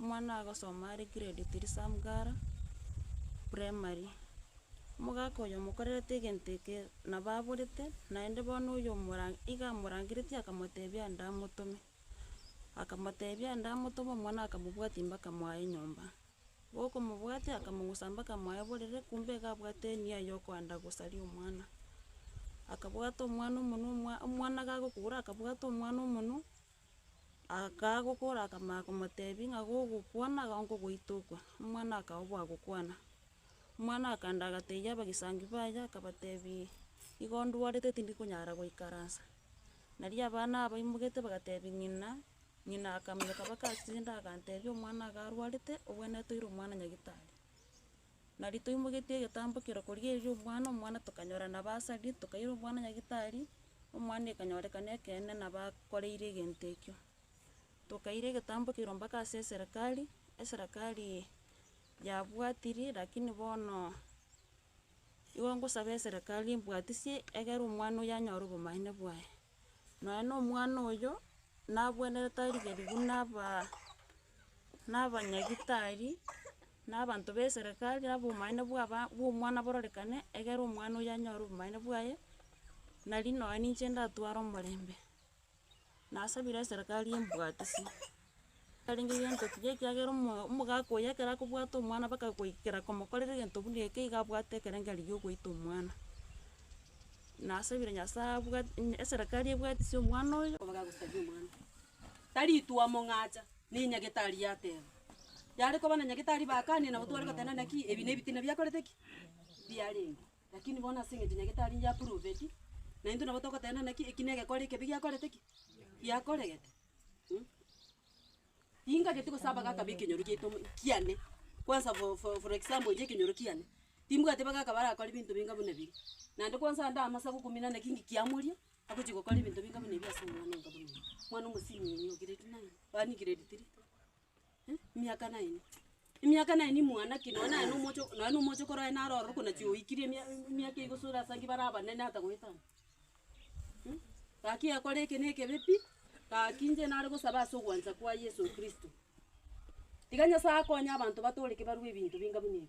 Omwana agosoma are grade three Samgara primary, omogaka oyo omokorerete egento eke nabo aborete, naende bono oyo omora iga amorangeretie akamotebia ande amotome, akamotebia ande amotome omwana akamobwatia mpaka mwaye nyomba, gokomobwatia akamogusa mpaka mwaye borere kumbe iga abwate enia ya okoenda gosaria omwana, akabwata omwana omonwe omwa omwana gakokura akabwata omwana omonwe. Akagokora akamanya komotebia ng'a gogokwana iga nkogoita okwane, omwana akaba obwagokwana. Omwana akaenda agatebia abagesangi baye akabatebia, igo ndwarete tindi konyara goikaransa. Nario abana abaimogete bagatebia ng'ina, ng'ina akamanya kabakasende agantebia omwana iga arwarete, obwene toire omwana nyagitari. Nari toimogetie egetambokero koria erio omwana, omwana tokanyora nabo ase aria, tokaira omwana nyagetari, omwana ekanyorekana ekeene nabo akoreire egento ekio. Tokaira egetambokero mpaka ase eserekari, eserekari yabwatirie lakini bono igo ngosaba eserekari embwatisie egere omwana oyio anyore obomaene bwaye. Nonya na omwana oyio, nabwenerete arigerie buna abaa. na abanyagitari, na abanto b'eserekari, na obomanene bw'aba bw'omwana bororekane, egere omwana oyio anyore obomanene bwaye, nari nonya ninche ndatware omorembe. Nasabire eserekari embwatisie, ekarenge gento kiya ekiagera omo omogaka oyio ekero akobwata omwana mpaka goikera komokorera egento buna eke iga abwate ekerenge rigiya ogoita omwana. Nasabire Nyasaye abwati eserekari ebwatisie omwana oyo. Taritwa omong'acha, ne nyagetari yateba. Yare koba na nyagetari bakanire nabo tware goteba naki ebi nebitina biakorete ki? Biarenge. Lakini bono ase eng'encho nyagetari niye apuruveti, naintwe nabo togoteba naki eki negekore ekebe giakorete ki? Giakoregete. Mh. Tingageti gosaba gakaba ekenyoro giaito mo kiane, kwansa for for for example inche ekenyoro kiane, timbwati iga gakaba arakore binto binga buna ebiya, naende kwansa ande amasagu kumina naki ngikiamoria. Agochia gokora ebinto binga buna ebio ase omwana oyo nkaboigo, omwana omosimi oyo nigo grade nine, yaani grade three, eh, emiaka nine, emiaka nine mwanake nonye naye na omocho nonye na omochoko oraye naro ororo ko naki oikire emia emiaka igo sore ase inki bare abanene ata goetania, mh. Gaki yakora eke na ekebe pi, gaki inche nare gosaba ase ogwancha kwa yeso kristo, tiga nyasaye akonye abanto batoreke barwe ebinto binga buna ebi.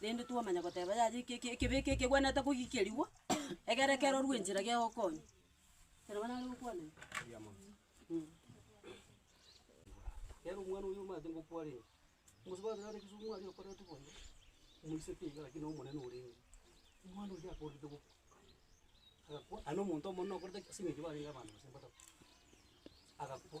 rende twamanya goteba yaya eke- eke- ekebe eke kegwenerete kogikerigwa, egere kerorwe enchera gegokonya. Ekero nabo nare gokwana iga. Mh. Nere omwana oyio omanyete ngokwarenge, omosubati oria ore kisumu aria okoreta oboiyo, moiseke iga lakini omonene orenge, omwana oria akorerete gokwa, agakwa, aye na omonto omonene okorete ki? As'eng'encho barenge abanto gose mbatabwa, agakwa.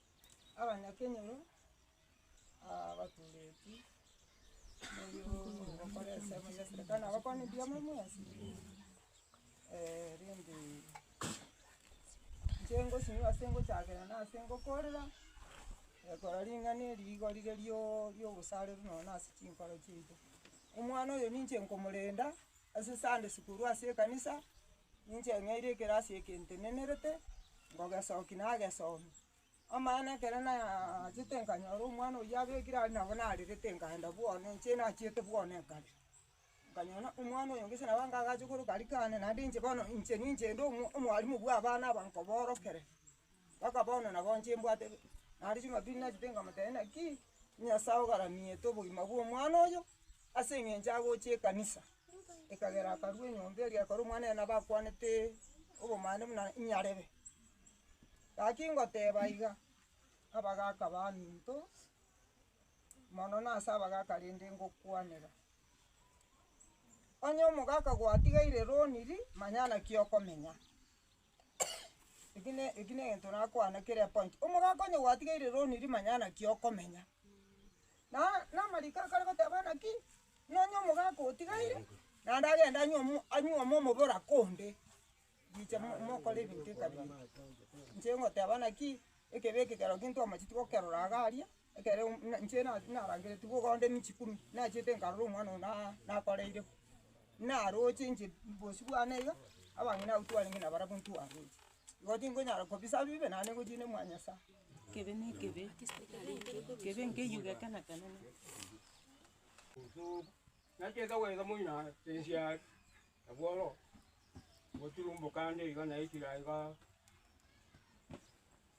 abanyakenyoro abaturetwe gokora esabu ya eserikari nabo kwane mbuya moe mwensi rende inche ngosinywa ase ngochakera na ase ngokorera ekero ring'ana eri igo rire riooo riogosareru nonya na ase chinkoro chiaito. Omwana oyo ninche nkomorenda ase Sunday school ase ekanisa. Ninche ng'eire ekerasi eke ntenenerete, ngogesoki nagesomia. Amaene ekero naachete nkanyora omwana oyio abekire aria nabo narerete nkaenda bwane inche nachiete bwane ekare. Nkanyora ng'a omwana oyo gose nabo anga agache koroka riko ande naende inche bono inche ninche inde omwa omwarimu bwa abana aba nkoborokere, mpaka bono nabo inche mbwate naende ching'abiri nachete nkamotebia naki, Nyasae ogaranete obogima bwa omwana oyo ase eng'encho agochia ekanisa. Ekagera akarua enyomba eria ekero omwana oye nabo akwanete obomani buna inyarebe. Gaki ngoteba iga, abagaka baminto, mono na ase abagaka rende ngokwanera, onye omogaka gwatigeire roniri, manya naki okomenya. Eki ne eki negento nakwana kere point, omogaka onye gwatigeire roni ri manya naki okomenya. Na namariko akare goteba ng'a ki, nonye omogaka otigaire naende agende anywe omo anywe omo omobere oko onde, richa mo mokore ebinto ebitari biya. Inche ngoteba ng'aki, ekebe ekekero ntwe amachete gokerora iga aria. Ekero inche narangeretigwe ogokora emichikuru, nachiete nkarora omwana oyo nakoreire bo, naroche inche bosio bwane iga, abang'ina abwo twarenge nabarabwo ntwaroche. Igo tingonyara kobisa bibe naende ngochie ne mwanyasae. Ekebe na ekebe, ekebe nkeywo gekana kane.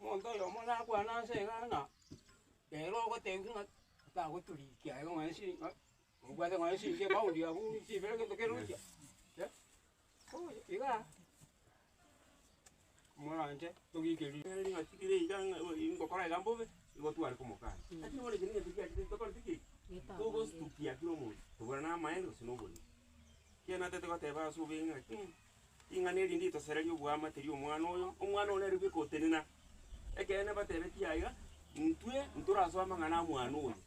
Omonto oyomo nakwane ase egana, ere ogotebwa ng'a tagoturikia aye nonya chiri ng'a obwate nonya chiringi ebaundi abwo chibere egento kerochia eh, bono igaa. moranche togikeri ere ring'ati kere iga ng'a igo ii ngokora iga mbobe, igo tware komokana. Lakini bono echi ring'ati riachire tokoreti ki? Togostukia kera omonto, tobura na amaene gose na oborimo. Ekiagera natete goteba ase obweng'e ng'a ki, ring'ana eri nditosereria oboama teri omwana oyo, omwana oyo nere bwe gotenena. Ekeene batebetie aiga, intwe ntorasoe amang'ana a mwana oyo.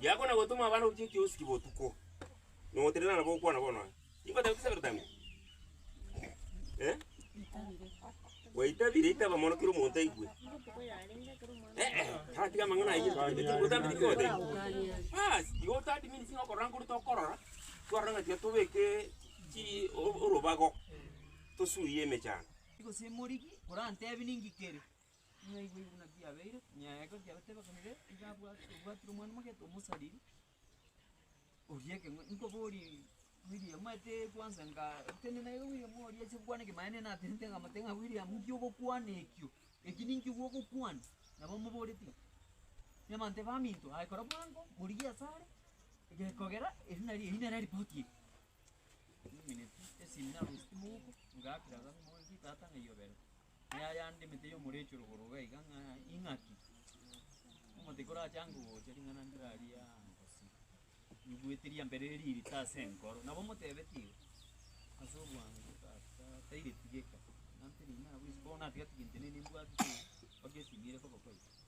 Yako na gotoma abana gochia ekiosiki botuko, na ogotenena nabo okwana bono aa. Tikotebi tisabire otambe? Eh? Gwaitabire itaba mono kera omonto aigwe. Eh, eh, taratiga amang'ana ayio. Otambe tikogotebi. Baas, igo otadmini sing'o okorora nkoria tokorora, twarora ng'a tiga tobeke chi o- orobago tosuye emechando. Gose morigi, korantebi ninki kere? Mwaigwa buna biabeire, nyareke biabateba buna biabeire, ng'a nigo abwate obwatire omwana omogete omosariri, oria ekeng'wanso, nkoborie William, omanyete kwanza nga tende naye William oria ache gokwana eke, maya nene natenenetie nkamotebia ng'a William nki ogokwana ekio, eki ninki gwogokwana? Nabo amoboretie ng'a, Nebaminto baminto, aye kora bwango, morigie asare, gekogera eri nario eri nere ripoti eye. Niminetie esimi narositie mouko, ngakera tata ng'a iyobe ere. Aya aya ande emete y'omorecho rogoro iga iga ng'a ing'aki, omote korachange ogocha ring'ana ndirarie aa ngosira, ribuete ria mbere ririte ase enkoro, nabo motebetie igo, ase obwango tata tairetigeka, nante riina abwo isiko bono natiga tigento nini mbwate tigento, mpaka esimire koba kwaito.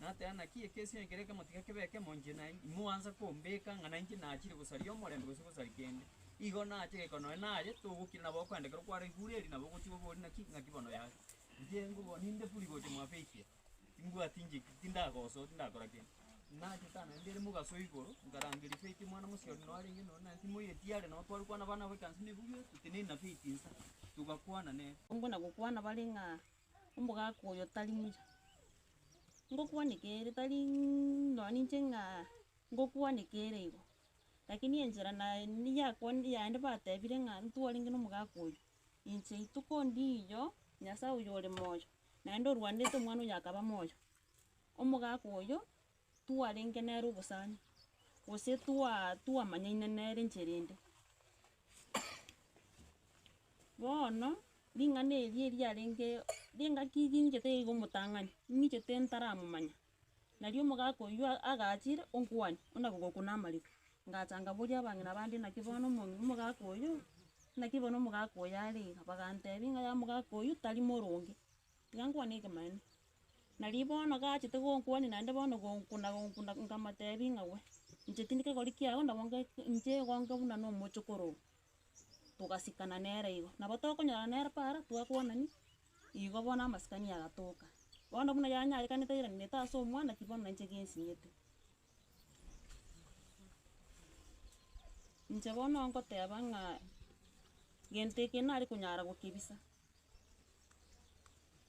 Nateba naki ekesinyo ekero ekemo tiga kebe ekemo inche nainche, imoansa kombeka ng'a nainche nachire gosaria omorembe gose gosaria kende. Igo nache goika nonye naye, togokira nabo okoenda ekero kwaraigure erio nabo ogochie obori naki, ng'aki bono yare. Inche ngoboa ninde buri gocha mwabeikia, timbwati inche ki, tindagosoa, tindakora kende. Nache tano naende ere mogaso igoro, nkarangeria Faith omwana mosie oria narenge nonye naye, timoyeti are nabo tware kwana abana abo ekanisa nebuya, totenena Faith inse, togakwana nere. Ongo na gokwana bare ng'a Omogaka oyo tari muya. Ngokwaneka ere tari nonya ninche ng'a ngokwaneka ere igo, lakini enchera naye yakwane yaende batebire ng'a ntwarenge na omogaka oyo, inche rituko ndiiyo Nyasaye oyo ore moyo, naende orwanderete omwana oyo akaba moyo, omogaka oyo twarenge nere obosani, gose twa twamanyaine nere enchera ende. Bono, ring'ana eri eriarenge ring'aki ring'ete iga omotang'ani, ng'ichete ntaramomanya, nario omogaka oyio agachire onkwane buna gogokwa na amariko, ngacha ngaboria abang'ina bande naki bono omo omogaka oyio, naki bono omogaka oyo are iga, bagantebia ng'a ya omogaka oyio tari moronge. Gankwania ekemanero. Nari bono gachete gonkwania naende bono gonkuna gonkuna nkamotebia ng'a we, inche tindi kegori kiao nabo nge inche igo nge buna nomochokoro oo. Togasikana nere igo. Nabo tokonyorana nere para, twakwanani, igo bono amasikani agatoka. Bono buna yanyarekanete airanete ase omwana ki bono nainche gensinyete. Inche bono ngoteba ng'a gento eke nare konyara gokebisa.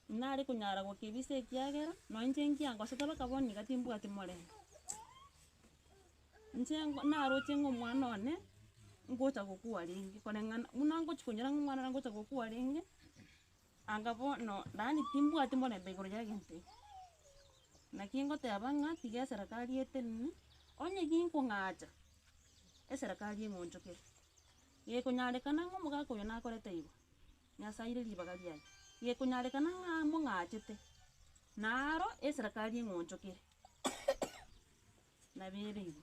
Nare konyara gokebisa ekiagera, nonya inche ngianga gosete mpaka bono iga timbwati morero. Inche naroche ng'a omwana one, ngocha gokwa renge, koreng'ana, buna ngochi konyora ng'a omwana one ngocha gokwa renge, anga bono yaani timbwati morembe igoro ya egento ekio. Naki ngoteba ng'a tiga eserekari etenene, onye ginkong'acha, eserekari eng'onchokere. Gekonyarekana ng'a omogaka oyo nakorete igoro, Nyasaeire ribaga riaye, gekonyarekana ng'a mong'achete, na aro eserekari eng'onchokere nabereirwe.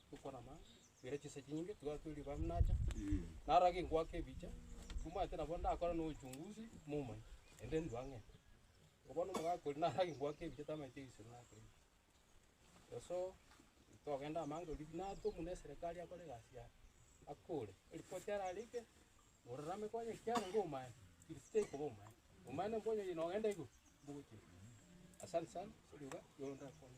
tokorama gere chinsa chinyinge tiga twe riba mnacha naro age ngoaka ebicha omanyete nabo ndakore no uchunguzi momanye ende ndua ng'e ko bono omogaka oria naro age ngoaka ebicha tamanyete egesiro naki ege so togende amange oria buna ake omonu eserekari akore egasi yaye akore eripoti ararenge ororame ko onye kiare ngo omanye gese tekoba omanye omanye nonko onye oye nogenda igoro mbogochire asante sana ase riba rigo ndakwane.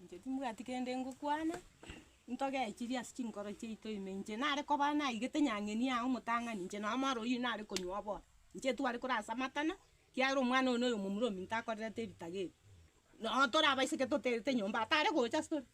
Inche timbwati kende ngokwana, ntogechirie ase chinkoro chiaito ime, inche nare koba naigete nyang'eni yaye omotang'ani, inche nonya omoro oyio nare konywa oboke, inche tware korasa amatama, ekiagera omwana oyo noyo omomura ominto akorerete ebitaga ebi, nonya torabaiseke toterete nyomba, atare gocha ase tore.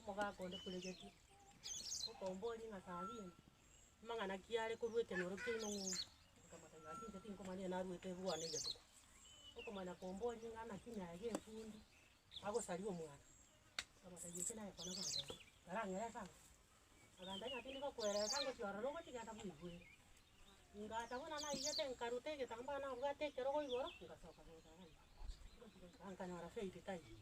Omogaka onde Kuregeti, okombora ring'ana Sabina, amang'ana ki are korwa ekenyoro kiaino ng'umbu, akamotebia ng'a inche tinkomanya ng'a narwete ebuana egetuba. Okomanya kombora ring'ana naki nyaye gefundi, agosaria omwana, akamotebia eke naye kwana gwanchete, karang'erere ang'e. Agambia, Ng'a tindi gokwerereka ngochia ororo ogochia gento buna bwere. Ngata buna naigete nkaruta egetambaa nabwate ekerogo igoro, ngasoka gocha gokwa. Ngochia gochia nkanyora Faith taiyo.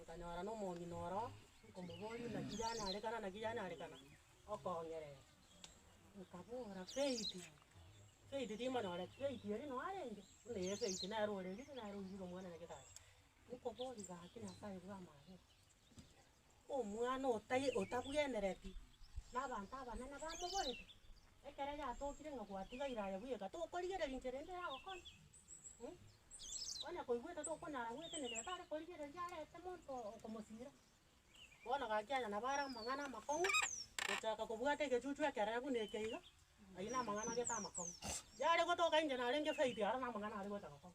Nkanyora na omong'ina oroo nkomoboria naki yanyarekana naki yanyarekana okong'erere. Nkabora, Faith, Faith timonyoreti, Faith eri noo arenge? Buna ee Faith nere orerire nere oirire Omonene gete are. Nkoboria, Gaki Nyasae bwamagete. Omwana otai otabwenereti na abanto abanene bamoborete, ekero yatokire ng'a gwatigaire aye bweka, tokorigereria inchera ende yagokora? Mh, onye koigwete tokonyara goetenena ere tare korigereria arete monto oo okomosira. Bono gaki aya nabo are amang'ana amakong'u, gochaka kobwata egechuchu ekerebe buna eke iga, ayio namang'ana agete amakong'u. Yare gotoka inche narenge faith aro namang'ana are goeta gokora.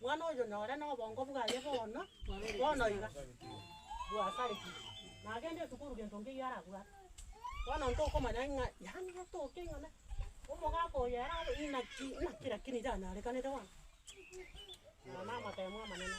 Mwana oyo nore nobongo bwaye bono, bono iga bwasareti, na agende esukuru gento nkeiyo arabwate. Bono ntokomanya ng'a yaani atoke ing'ana, omogaka oyo ere abe inaki inaki lakini iranyarekanete bono, namateemu amanene.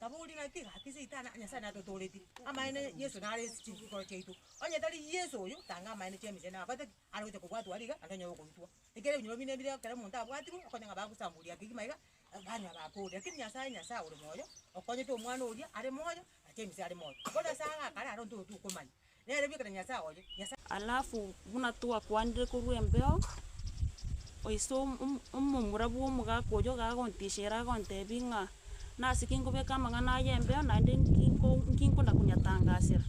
Tabori naki? Gaki Saitani, Nyasae natotooretie amaene Yeso nare ense chinkoro chiaito. Onye tari Yeso oyo, tanga amaene chi'emese na abate ki? Are gocha kobwatwa aria iga, ande onye ogoitwa. Ekero ebinyoro bine bire ekero omonto abwatirwe, okonya ng'a bagosamboria kegima iga, banywa bakooria. Lakini Nyasae, Nyasae ore moyo, okonyete Omwana oria are moyo, ache emise are moyo. Bono ase agakare aro ntotokomanya. Alafu buna twakwanire korwa embeo, oise omomura bw'omogaka oyio gagontishera agontebia ng'a nase ki nkobeka amang'ana aya embeo naende nki nkona konyatangasera.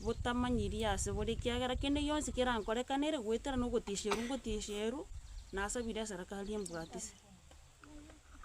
botamanyirie ase bore ekiagera kende gionsi kerankorekanere goetera na ogotisherwa ngotisherwe, nasabire ase rakara ri'embwatisi.